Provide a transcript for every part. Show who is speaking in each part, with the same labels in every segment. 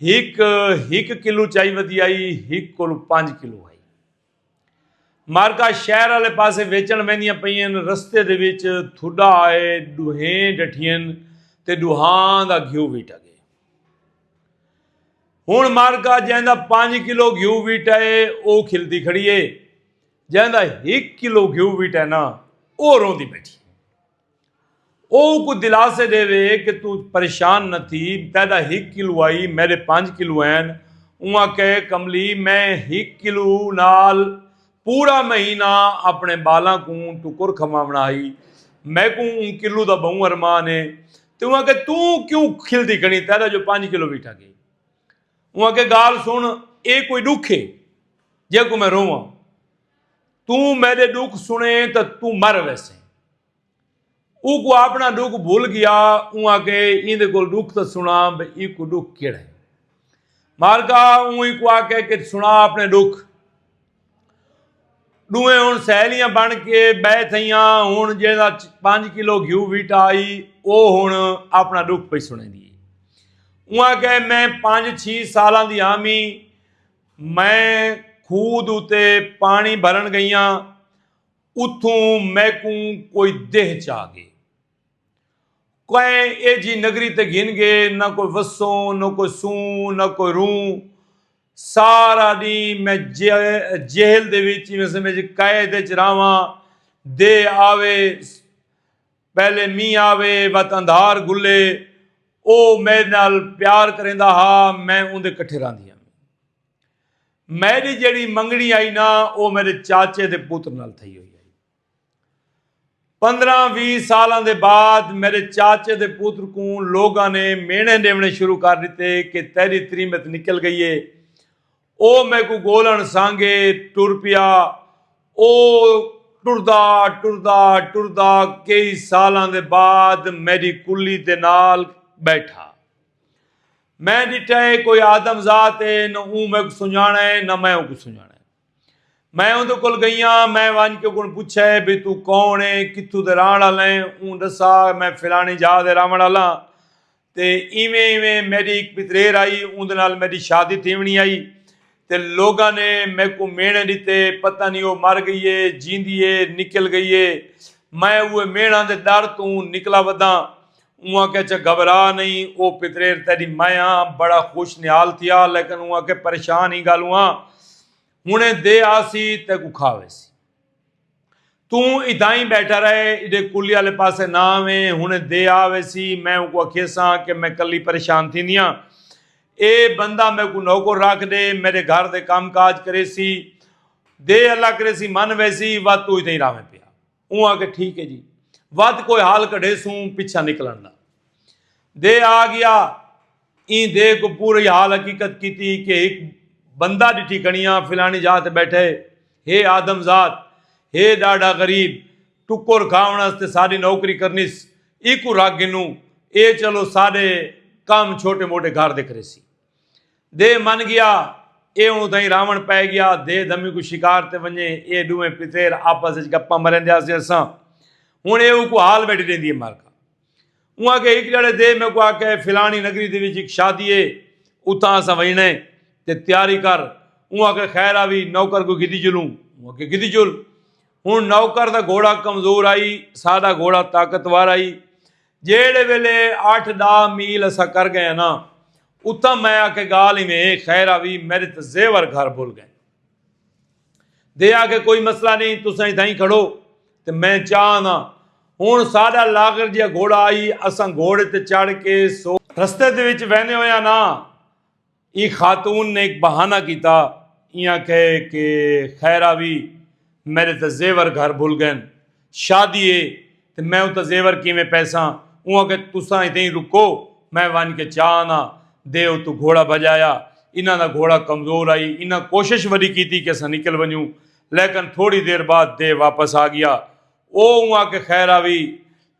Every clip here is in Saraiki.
Speaker 1: ہک ہک کلو چائی ودی آئی ہک کولو پانچ کلو آئی مارکا شہر والے پاسے ویچن ویندیاں پئین رستے دے وچ تھڈا آئے ڈوہیں ڈٹھین تے ڈوہاں دا گھیو ویٹا گئے ہن مارکا جیندا پانچ کلو گھیو ویٹا ہے او کھلدی کھڑی ہے جیندا ہک کلو گھیو ویٹا ہے نا او روندی بیٹھی او اونکوں دلاسے ڈیوے کہ توں پریشان نہ تھی، تیڈا ہک کلو آئی، میڈے پنج کلو ہین۔ اوں آکھے، کملی میں ہک کلو نال پورا مہینہ اپنے بالاں کوں ٹکر کھواونا ہئی، میکوں اوں کلو دا بہوں ارمان ہے۔ تے اوں آکھے، توں کیوں کھلدی کھڑیں، تیڈا جو پنج کلو وی ٹھگ ہے۔ اوں آکھے، گالھ سن، ایہ کوئی ڈکھ ہے جیکوں میں روواں۔ توں میرے ڈکھ سنے تو توں مر ویسے او کو اپنا ڈکھ بھول گیا اوں آ کے ایندے کول ڈکھ تو سنا بھئی ای کو ڈکھ کیڑا ہے مالکا اوں ای کو آ کے کہ سنا اپنے ڈکھ ڈوئیں ہن سہیلیاں بن کے بے تھیاں ہن جیڑا 5 کلو گھیو ویٹا آئی او ہن اپنا دکھ پئی سنے دی اواں کہ میں 5 6 سالاں دی آمی میں کھوہ دے اتے پاݨی بھرݨ ڳئیاں، اتھوں میکوں کوئی دیہہ چا ڳئے۔ کئے ایجھی نگری تے گھن ڳئے، نہ کوئی وسوں، نہ کوئی سوں، نہ کوئی روں۔ سارا ݙینہہ میں جہل دے وچ، ایویں سمجھ قید وچ رہواں، دیہہ آوے، پہلے مینہ آوے وت اندھار گھلے او میڈ نال پیار کریندا ہا میں اوندے کٹھے راندی ہم میڈی جیڑی منگنی آئی نا او میڈے چاچے دے پوتر نال تھئی ہوئی آئی پندرہ وی سالاں دے بعد میڈے چاچے دے پوتر کوں لوگاں نے مینے ڈیونے شروع کر دیتے کہ تیری تریمت نکل گئی ہے او میکوں گولݨ سانگے ٹر پیا۔ او ٹردا ٹردا ٹردا کئی سالاں دے بعد میڈی کلی دے نال بیٹھا۔ میں ڈٹھا اے کوئی آدم ذات اے نہ اوں میکوں سنجاݨا اے نہ میں اونکوں سنجاݨا اے۔ میں اوندے کول گئیاں میں ونج کے اوکوں پچھا اے بھئی توں کون اے کتھوں دے رہݨ آلیں اوں ڈسا میں فلاݨی جاہ دے رہوݨ آلاں تے ایویں ایویں میڈی ہک پتریر آئی اوندے نال میڈی شادی تھیونڑی آئی تے لوگاں نے میکوں میڑھے ڈتے پتہ نی او مر گئی اے جیندی اے نکل گئی اے میں اوہے میڑھاں دے ڈر توں نکلا وداں اوں آکھیا چہ گھبرا نئیں او پتریر تیڈی میں آں بڑا خوش نہال تھیا لیکن اوں آکھیا پریشان ہی گالوں آں ہنڑے دے آسی تیکوں کھا ویسی۔ توں اتھاں ای بیٹھا رہے، ایڈے کلی آلے پاسے نہ آویں، ہنڑیں دے آ ویسی، میں اونکوں اکھیساں کہ میں کلی پریشان تھیندیاں، اے بندہ میکوں نوکر رکھ ڈے، میڈے گھر دے کم کاج کریسی، دے اللہ کریسی من ویسی، ودھ توں اتھاں ای رہویں پیا۔ اوں آکھیا ٹھیک ہے جی، ودھ کوئی حل کڈھیسوں، پچھاں نکلنڑ دا۔ دے آ گیا۔ ایں دے کوں پوری حال حقیقت کیتی کہ ہک بندہ ڈٹھی کنیاں فلانی جاہ تے بیٹھے ہے آدم ذات ہے ڈاڈھا غریب ٹکر کھاون استے ساڈی نوکری کرنیس ایکوں رکھ گھنوں اے چلو ساڈے کم چھوٹے موٹے گھر دے کریسی دے من گیا اے ہن اتھائیں راون پے گیا دے دھمی کوں شکار تے ونجے اے ڈوہیں پتیر آپس وچ گپاں مریندے آسے اساں ہن اے اوکوں حال بیٹھی ڈیندی ہے مارکا۔ اوں آکھیا ہک جھڑے دے میکوں آکھیا ہے فلانی نگری دے وچ ہک شادی ہے اتھاں اساں ونجنڑے تے تیاری کر اوں آکھیا خیر آوی نوکر کوں گھدی چلوں اوں آکھیا گھدی چل ہن نوکر دا گھوڑا کمزور آئی ساڈا گھوڑا طاقتور آئی جیہڑے ویلے اٹھ ڈاہ میل اساں کر گئے ہاں نا اتھاں میں آکھیا گال ایویں ہے خیر آوی میڈے تے زیور گھر بھل گئے دے آکھے کوئی مسئلہ نہیں تساں اتھاں ہی کھڑو تے میں چاہ آندا ہن ساڈا لاغر جیا گھوڑا آئی اساں گھوڑے تے چڑھ کے سو رستے دے وچ ویندے ہویاں نا ای خاتون نے ہک بہانہ کیتا ایاں کہے کہ خیرا وی میڈے تے زیور گھر بھل گئن شادی اے تے میں اتے زیور کیویں پیساں اوں آکھیا تساں اتیں ای رکو میں ونج کے چا آناں دے اتوں گھوڑا بھجایا انہاں دا گھوڑا کمزور آئی انہاں کوشش وڈی کیتی کہ اساں نکل ونجوں لیکن تھوڑی دیر بعد دے واپس آگیا او اوں آکھے خیر آوی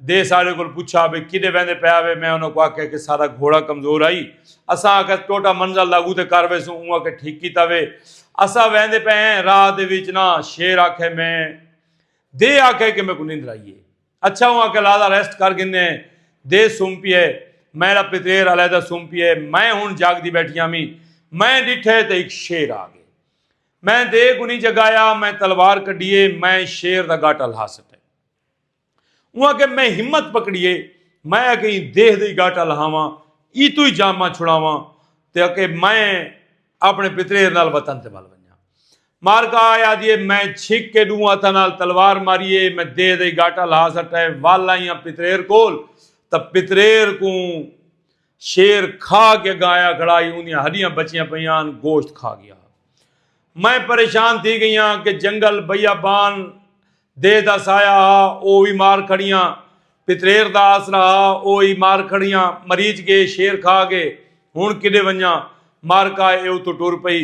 Speaker 1: دے ساڈے کول پچھا بھئی کڈے ویندے پے آوے میں انہاں کوں آکھیا کہ ساڈا گھوڑا کمزور آئی اساں آکھیا ٹوٹا منزل لاگو تے کر ویسوں اوں آکھے ٹھیک کیتا وے اساں ویندے پے ہیں راہ دے وچ نا شیر آکھے میں دے آکھے کہ میکوں نندر آئی ہے۔ اچھا اوں آکھے لہذا ریسٹ کر گھنے دے سم پیئے۔ میڈا پتریر علیحدہ سم پیئے۔ میں ہن جاگ دی بیٹھی ہامی۔ میں ڈٹھے تے ہک شیر آ گئے۔ میں دے کنی جگایا۔ میں تلوار کڈیے۔ میں شیر دا گاٹا لہا سٹے۔ اوں آکھے میں ہمت پکڑیے۔ میں آکھے ایں دیہ دے گاٹا لہاواں۔ ای توئی جاماں چھڑاواں۔ تے آکھے میں اپنے پتریر نال وطن تے ول ونجاں۔ مارکا آیا دیے میں چھک کے ڈوں ہتھاں نال تلوار ماریے میں دے دئی گاٹا لا سٹے ول آئیاں پتریر کول تا پتریر کوں شیر کھا کے گا آیا کھڑا ہی اوندیاں ہڈیاں بچیاں پیاں گوشت کھا گیا میں پریشان تھی گیاں کہ جنگل بیابان دے دا سایہ ہا او وی مار کھڑیاں پتریر دا آسرا ہا او ای مار کھڑیاں مریچ گے شیر کھا گے ہن کڈے ونجاں مار کا اے اتو ٹر پئی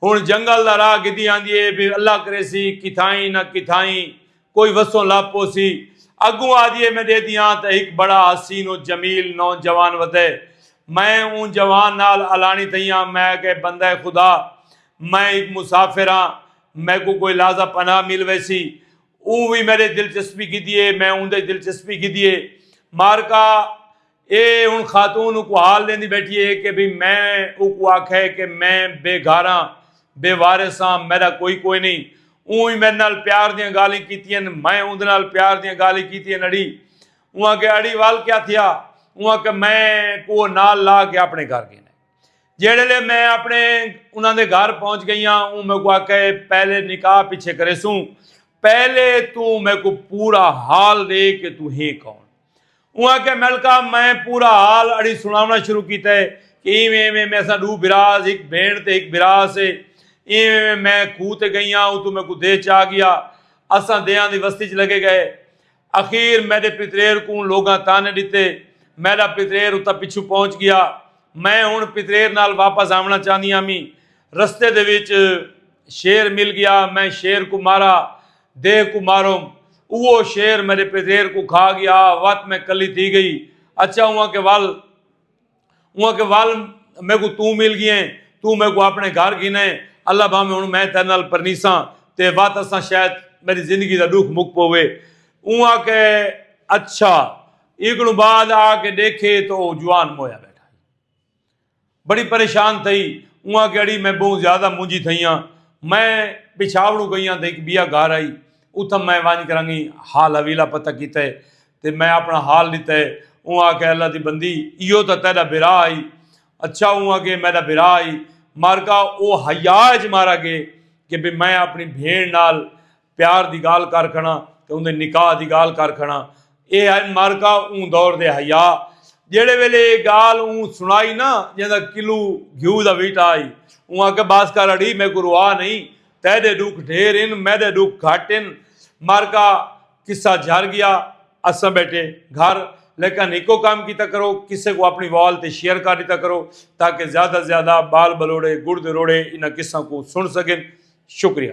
Speaker 1: ہن جنگل دا راہ گدی آندی اے بے اللہ کریسی کتھائیں نہ کتھائیں کوئی وسوں لب پوسی اگوں آدھی اے میں دے دیاں تاں ہک بڑا حسین و جمیل نو جوان ودے میں اوں جوان نال الانی تھیاں میں کہ بندہ خدا میں ہک مسافر ہاں میکوں کوئی لازہ پناہ مل ویسی۔ اوں وی میڈے دلچسپی گھدی اے۔ میں اوندے دلچسپی گھدی اے۔ مارکا اے ہن خاتون اوکوں حال ڈیندی بیٹھی اے کہ بھئی میں اوکوں آکھیا اے کہ میں بے گھاراں، بے وارث آں، میڈا کوئی کوئی نئیں۔ اوں وی میڈے نال پیار دیاں گالھیں کیتین۔ میں اوندے نال پیار دیاں گالھیں کیتین اڑی۔ اوں آکھیا اڑی ول کیا تھیا؟ اوں آکھیا میں کوہ نال لا کے اپنے گھر گھن آئے۔ جیڑے لے میں اپنے انہاں دے گھر پہنچ گئی ہاں اون میکو آکھے پہلے نکاح پیچھے کرے سوں پہلے تو میکو پورا حال دے کہ تو ہیں کون اون آکھے ملکا میں پورا حال اڑی سناونا شروع کیتا ہے کہ ایویں ایویں میں سا دو براز ایک بھین تے ایک برا سے ایویں ایویں میں کھو تے گئی ہاں او تو میکو دے چا گیا اساں دیاں دی وستی چ لگے گئے اخیر میݙے پتریر کوں لوگاں طعنے ݙتے۔ میݙا پتریر اتھاں پچھوں پہنچ ڳیا۔ میں ہݨ پتریر نال واپس آوݨا چاہندی ہامی۔ رستے دے وچ شیر مل ڳیا۔ میں شیر کوں مارا۔ دیہہ کوں ماروم۔ اوہو شیر میݙے پتریر کوں کھا ڳیا۔ وت میں کلھی تھی ڳئی۔ اچھا ہوا کہ ول۔ انہاں کے وال میں کو توں مل گیا ہیں توں میں کو اپنے گھر گھنا ہیں اللہ بھا میں ہن میں تیرے نال پرنیساں تے وات اساں شاید میری زندگی دا ڈوکھ مک پوے انہاں کے اچھا ایکنوں بعد آ کے دیکھے تو او جوان مویا بیٹھا ہے بڑی پریشان تھئی انہاں کے اڑی میں بہت زیادہ مونجی تھئیاں میں پچھاوڑوں گئیاں تو ایک بیا گھر آئی اتھا میں وانج کرنگی حال حویلہ پتہ کیتا ہے تے میں اپݨا حال ݙتا ہے۔ اوں آکھیا، اللہ دی بندی! ایہو تاں تیݙا بھرا ہئی۔ اچھا اوں اگے میݙا بھرا ہئی۔ مارکا او حیا اچ مارا ڳئے کہ بھئی میں اپݨی بھیݨ نال پیار دی ڳالھ کر کھڑاں تے اوندے نکاح دی ڳالھ کر کھڑاں۔ ایہ ہن مارکا اوں دور دے حیا۔ جیڑھے ویلے ایہ ڳالھ اوں سݨائی نہ جیندا کلو گھیو دا ویٹا ہئی۔ اوں آکھیا، بس کر اڑی میکوں روا نئیں۔ تیݙے ݙکھ ڈھیر ہن میݙے ݙکھ گھٹ ہن۔ مارکا۔ قصہ جھر گیا اساں بیٹھے گھر لیکن ہکو کام کیتا کرو کسے کو اپنی وال تے شیئر کر دیتا کرو تاکہ زیادہ زیادہ بال بلوڑے گڑ دے روڑے انہاں قصہ کو سن سکن شکریہ